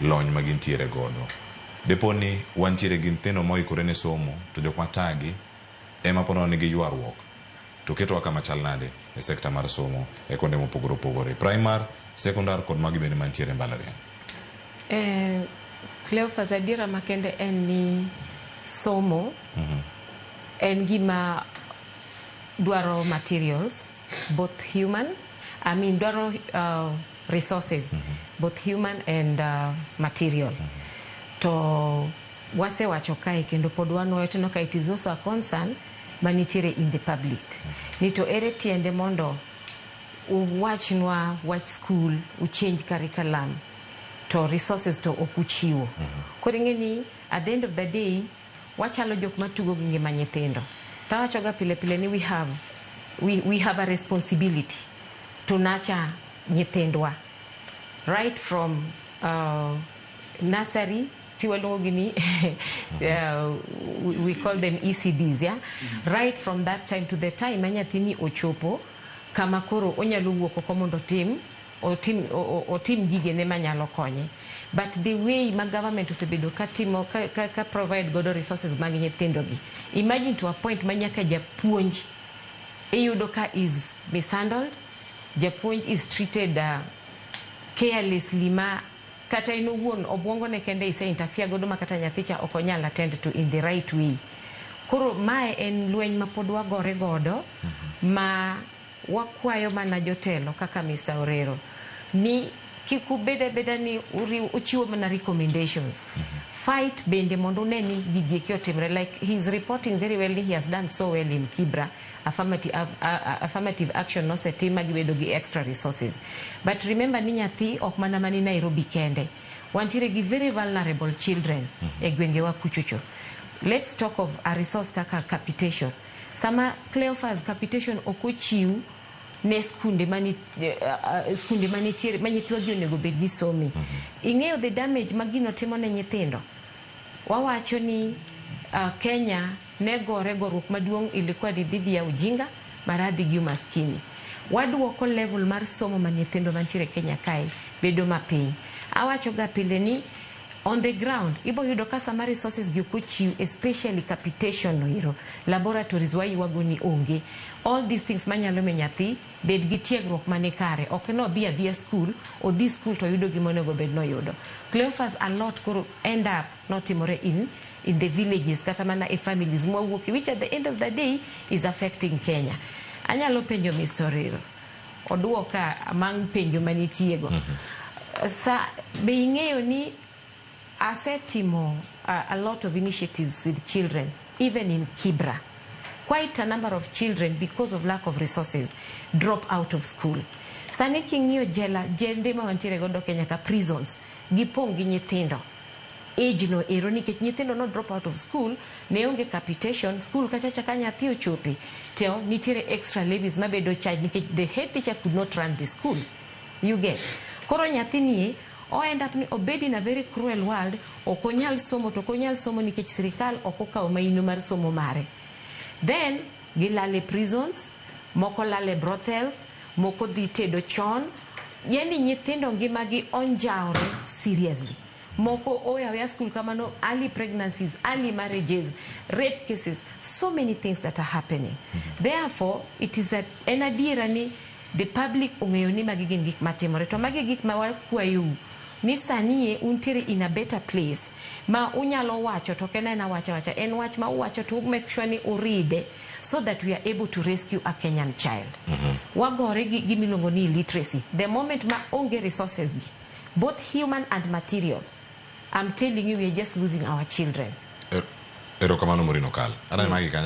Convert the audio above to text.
lony ma gintiere godo. Dipo ni wantiere gi nyithindo moikore ne somo to jok ma tagi ema po nono ni gi ywaruok to ketowa kama chal nade e sector mar somo e konde mopogore opogore, primar, sekondar kod magi bende mantiere e mbalariany. Eh, Cleophas, adiera makende en ni somo en gima dwaro materials. both human I mean dwaro uh, resources mm -hmm. both human and uh, material mm -hmm. to wasewacho kae kendo pod wanwoyo teno ka it is also a concern manitiere in the public mm -hmm. ni to ere tiende mondo uwachnwa wach school uchange curriculum to resources to ok uchiwo mm -hmm. koro ing'e ni at the end of the day Wachalo jok matugo gi ngima nyithindo. To awachoga pile pile ni we have, we, we have a responsibility to nurture nyithindwa right from uh, nursery ti waluongogi ni uh, we, we call them ECDs, yeah? right from that time to the time ma nyathini ochopo kama koro onyalo wuok oko mondo otim otim otim gigene manyalo konye but the way ma government osebedo ka timo ka, ka, ka provide godo resources mag nyithindo gi imagine to a point ma nyaka japuonj iyudo ka is mishandled japuonj is treated uh, carelessly ma kata in owuon obwongo ne kende ise interfere godo ma kata nyathi cha ok onyal attend to in the right way koro mae en lweny ma pod wagore godo ma Wakwayo mana jotelo kaka Mister Orero ni kik ubed abeda ni uriwo uchiwo mana recommendations. Fight bende mondo une ni gigi eki otimre like he is reporting very well ni he has done so well in Kibra, affirmati av a a affirmative action nosetim ma gibedo gi extra resources. But remember ni nyathi ok mana mani Nairobi kende. Wantiere gi very vulnerable children e gwengewa kuchocho. Let's talk of a resource kaka capitation. Sama Cleophas Capitation ok ochiw ne skunde mani uh, skunde manitiere ma nyithwagi onego bed ni some. Mm -hmm. Ing'eyo the damage ma gino timo ne nyithindo. Wawacho ni uh, Kenya ne gore goruok maduong' ilikuwa ni dhidi ya ujinga, maradhi gi umaskini. Waduoko level mar somo ma nyithindo mantiere Kenya kae bedo mapiny. Awachoga pile ni On the ground ibo yudo ka sama resources gi ok ochiw especially capitation no ero, laboratories wayuago ni onge, all these things manyalo miyo nyathi bed gi tiegruok mani kare ok ni odhi adhiya skul, odhi skul to oyudo gima onego bed ni oyudo. Cleophas a lot koro end up notimore in in the villages kata mana e families mwawuokie which at the end of the day is affecting Kenya. Anyalo penjo Miss Orero. Odwoka amang' penjo manitiego. Sa, be ing'eyo ni asetimo a, a lot of initiatives with children even in Kibra. Quite a number of children because of lack of resources drop out of school. Sani king'iyo jela, jende ma wantiere godo Kenya ka prisons, gipong' gi nyithindo. age no ero nikech nyithindo no drop out of school ne onge capitation school kachacha ka nyathi ochope to nitiere extra levies mabedo charge nikech the head teacher could not run the school you get koro nyathi nie o end up ni obedi in a very cruel world ok onyal somo to ok onyal somo nikech sirikal ok okawo maino mar somo mare then Gilal e prisons, moko lal e brothels, moko dhi tedo chon, yaani nyithindo ngima gi onjawre seriously. Moko owe aweya school kamano, early pregnancies, early marriages, rape cases, so many things that are happening. Therefore, it is a, en adiera ni The public ong'eyo ni magi gin gik matimore to magi e gik ma wakwayou ni sanie untiere in a better place ma unyalo wacho to ok en aena wach awacha en wach ma uwacho to u make sure ni uride so that we are able to rescue a Kenyan child. Wagore gi gima iluongo ni illiteracy the moment ma onge resources gi both human and material I'm telling you we are just losing our children. Erokamano Morin Okal. Aneno magi kanyo.